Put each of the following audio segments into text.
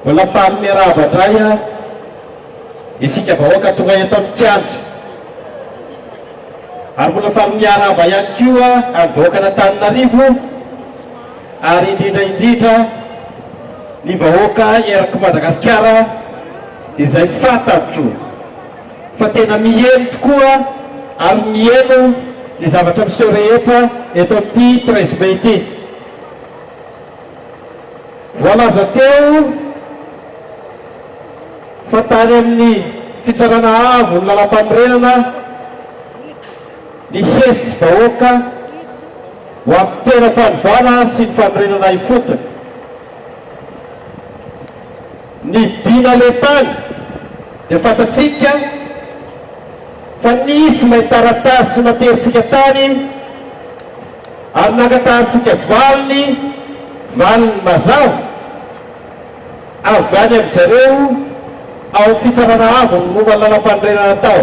Mbola faly miarahaba indray a isika vahoaka tonga eto amin'ny kianja. Ary mbola faly miarahaba ihany koa amin'ny vahoakan'Antananarivo ary indrindra indrindra ny vahoaka erak'i Madagasikara izay fantatro. fa tena miely tokoa ary mihaino ny zavatra miseho rehetra eto amin'ity treize mai ity. Voalaza teo fa tany amin'ny Fitsarana Avo ny Lalampanorenana ny hetsi-bahoaka ho amin'ny tena fanovana sy ny fanorenana ifotony. Ny dina nentany dia fantatsika fa nisy ilay taratasy naterintsika tany ary nangatahantsika valiny, valiny mazava avy any amin-dry zareo ao amin'ny Fitsarana Avo ny momba ny Lalampanorenana tao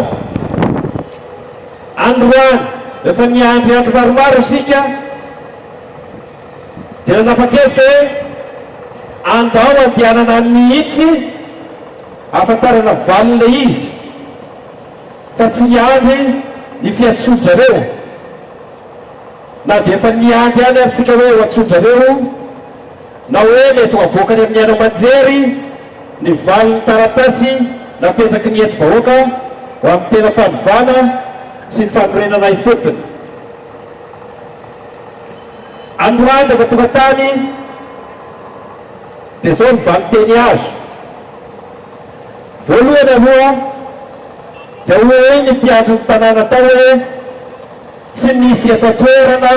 Androany. Rehefa niandry andro maromaro isika, Dia nanapa-kevitra hoe andao andehanana any mihitsy ahafantarana valiny ilay izy ka tsy hiandry ny fiantsoan-dRareo. Na dia efa niandry ihany ary tsika hoe ho antsoin-dRareo na hoe mety ho avoakany amin'ny haino aman-jery ny valin'ny taratasy napetraky ny hetsi-bahoaka ho amin'ny tena fanovana sy ny fanorenana ifotony. Anorahan'ny zava-tokantany dia izao ny valinteny azo. Voalohany aloha dia hoy ny mpiandrin'ny tanàna tao hoe tsy misy efa toerana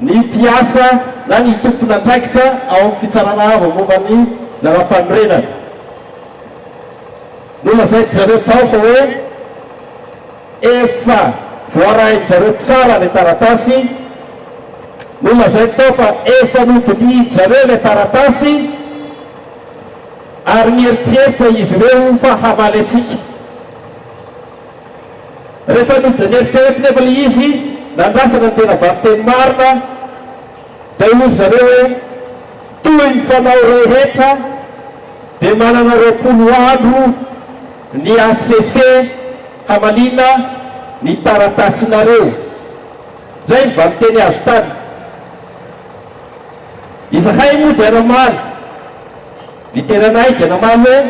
ny mpiasa na ny tompon'andraikitra ao amin'ny Fitsarana Avo momba ny Lalàmpanorenana. Nolazain-dry zareo tao fa hoe. Efa voarain-dry zareo tsara ilay taratasy, nolazainy tao fa efa nodidihin-dry zareo ilay taratasy ary nieritreritra izy ireo fa hamaly antsika. Rehefa nodin'eritreretra nefa ilay izy, nandrasana ny tena valinteny marina, Dia hoy zareo hoe, Toy ny fanao rehetra dia manana roapolo andro ny hcc hamaliana ny taratasinareo. Izay ny valinteny azo tany. Izahay moa dia namaly, ny tenanay dia namaly hoe,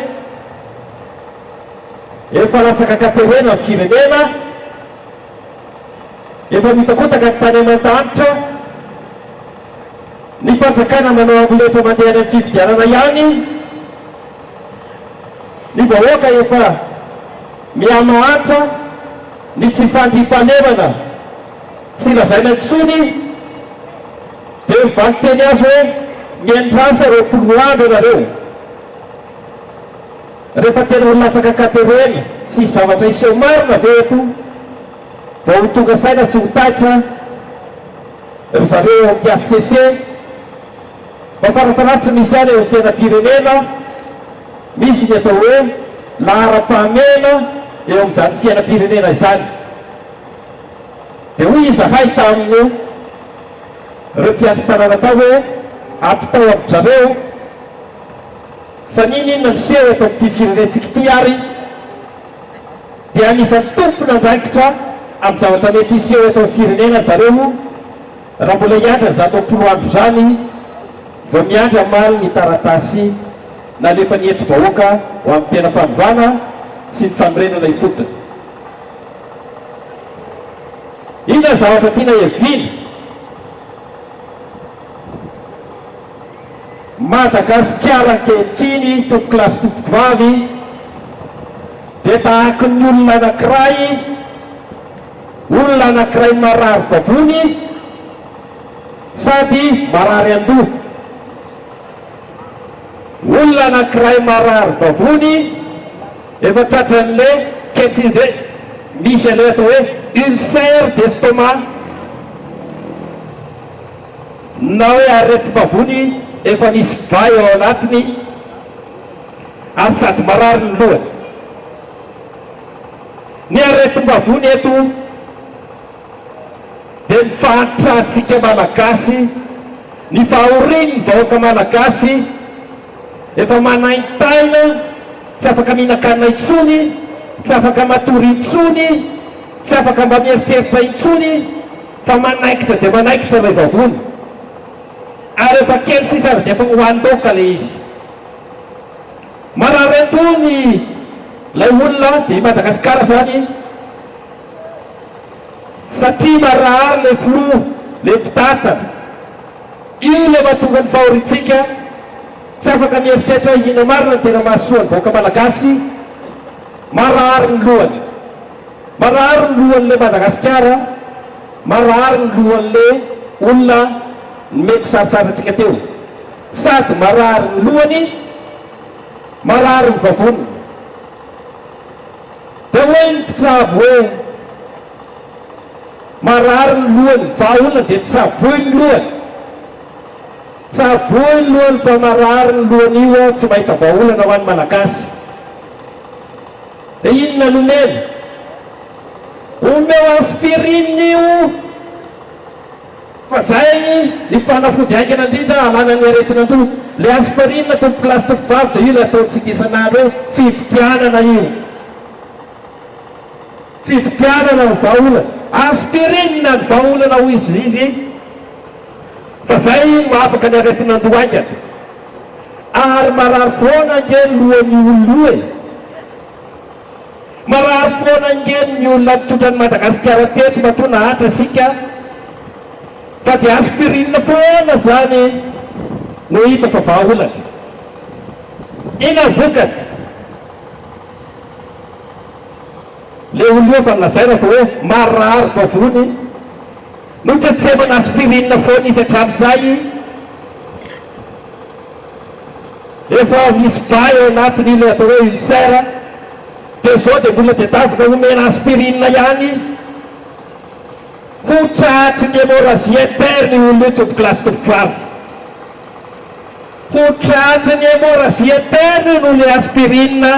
Efa latsaka katerena ny firenena, Efa mitakotaka ny tany aman-danitra, ny fanjakana manao amboletra mandeha any amin'ny fifidianana ihany, ny vahoaka efa mihamahantra, ny tsy fandriampahalemana tsy lazaina intsony, dia mivaky teny azy hoe miandrasa roapolo andro ianareo. Rehefa tena ho latsaka katerely sy zavatra hiseho marina ve eto vao ho tonga saina sy ho taitra ry zareo ao amin'ny hcc? Mba farafahaly tsy misy ihany eo amin'ny fiainam-pirenena, misy ny atao hoe laharam-pahamehana eo amin'izany fiainam-pirenena izany. Dia hoy izahay tamin'ireo mpiandry tanàna tao hoe, ampitao amin-dry zareo. Fa n'inona inona miseho eto amin'ity firenentsika ity ary dia anisan'ny tompon'andraikitra amin'ny zavatra mety hiseho eto amin'ny firenena ry zareo raha mbola hiandry ny zato am-polo andro izany vao miandry hamaly ny taratasy nalefan'ny hetri-bahoaka ho amin'ny tena fanovana sy ny fanorenana ifotony. Inona ny zavatra tiana heviana? Madagasikara ankehitriny tompoko lahy sy tompoko vavy dia tahaky ny olona anankiray, olona anankiray marary vavony sady marary an-doha, olona anankiray marary vavony efa tratran'le ketsy izay, misy an'le atao hoe ulcère d'estomac. Na hoe aretim-bavony efa nisy gay ao anatiny ary sady marary ny lohany. Ny aretim-bavony eto dia ny fahantrantsika Malagasy, ny fahorian'ny vahoaka Malagasy efa manaintaina, tsy afaka mihinan-kanina intsony, tsy afaka matory intsony, tsy afaka mba mieritreritra intsony. Fa manaikitra dia manaikitra ilay vavony, ary efa kely sisa ary dia efa hohanin-daoka ilay izy. Marary an-doha ilay olona, dia i Madagasikara izany, satria marary ilay filoha, ilay mpitantana. Io ilay mahatonga ny fahoriantsika, tsy afaka mieritreritra hoe inona marina no tena mahasoa ny vahoaka malagasy, marary ny lohany. Marary ny lohanle Madagasikara marary ny lohanle olona nomeko sarotsara tsika teo sady marary ny lohany marary ny vavony de hoe ny mpitsabo hoe marary ny lohany vahaolona de tsaboy ny lohany tsaboy ny lohany fa marary ny lohany io tsy mahita vahaolana hoany malagasy Inona no omena? Omeo aspirine io fa zay ny fanafody haingana indrindra alana ny aretin'andoha. Le aspirine tompokolahy sy tompovavy de io le ataontsika isan'andro hoe fividianana io. Fividianana ny vahaolana. Aspirine ny vahaolana hoy izy. fa zay no afaka ny aretin'andoha haingana ary marary foana ange ny lohan'ny olona io e! Marary foana ange ny olona mitondra an'i Madagasikara teto matoa nahatra isika fa dia aspirinina foana zany no hita fa vahaolana. Inona ny vokany? Le olona io efa nolazaina fa hoe marary vavony. Notsetsefana aspirine foana izy hatramin'izay rehefa misy ba eo anatiny ilay atao hoe ulcère dia izao dia mbola tedavina omena aspirine ihany koa tratry ny hémorragie interne io olona io tompoko lahy sy tompoko vavy. Ho tratry ny hémorragie interne no ilay aspirine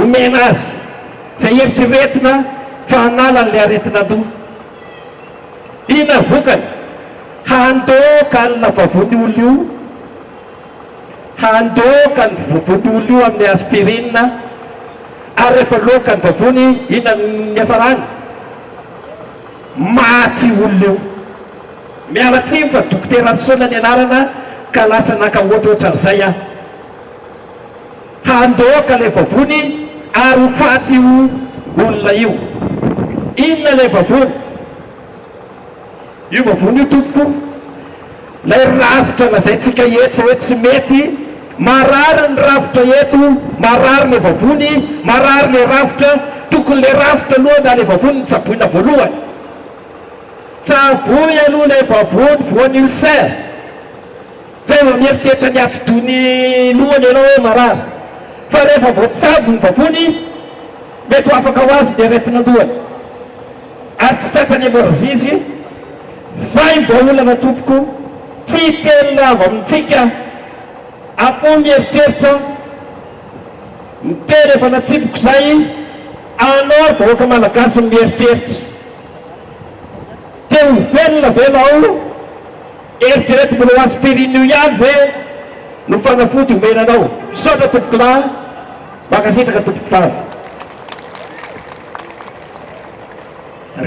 omena azy izay eritreretina fa hanala an'ilay aretin'andoha. Inona vokany? Handoaka alina vavony olo io, handoaka ny vovony olo io amin'ny aspirine, ary rehefa loaka ny vavony, inona no niafarany? Maty olo io. Miala tsiny fa Dokotera Ratsisoa ny anarana ka lasa naka ohatrohatran'izay aho. Handoaka le vavony ary ho faty io olona io. Inona le vavony? Io vavony io tompoko, lay rafitra lazaintsika eto fa hoe tsy mety, marary ny rafitra eto, marary le vavony, marary le rafitra, tokony le rafitra aloha na le vavony no tsaboina voalohany. Tsaboy aloha le vavony voan'ulcère. Tena mieritreritra ny hatidoha ny lohany ianao hoe marary, fa rehefa voatsabo ny vavony izy, mety ho afaka ho azy ny aretin'andohany, ary tsy tratran'ny hemorragie izy. Zay ny vahaolana tompoko, tsy telina avy amintsika akoho mieritreritra ny tena efa natsipiko zay, anao ry vahoaka malagasy no mieritreritra te ho velona ve nao? Eritrereto mbola ho aspirin'io ihany ve no fanafody omena anao. Misaotra tompokolahy, mankasitraka tompoko faly.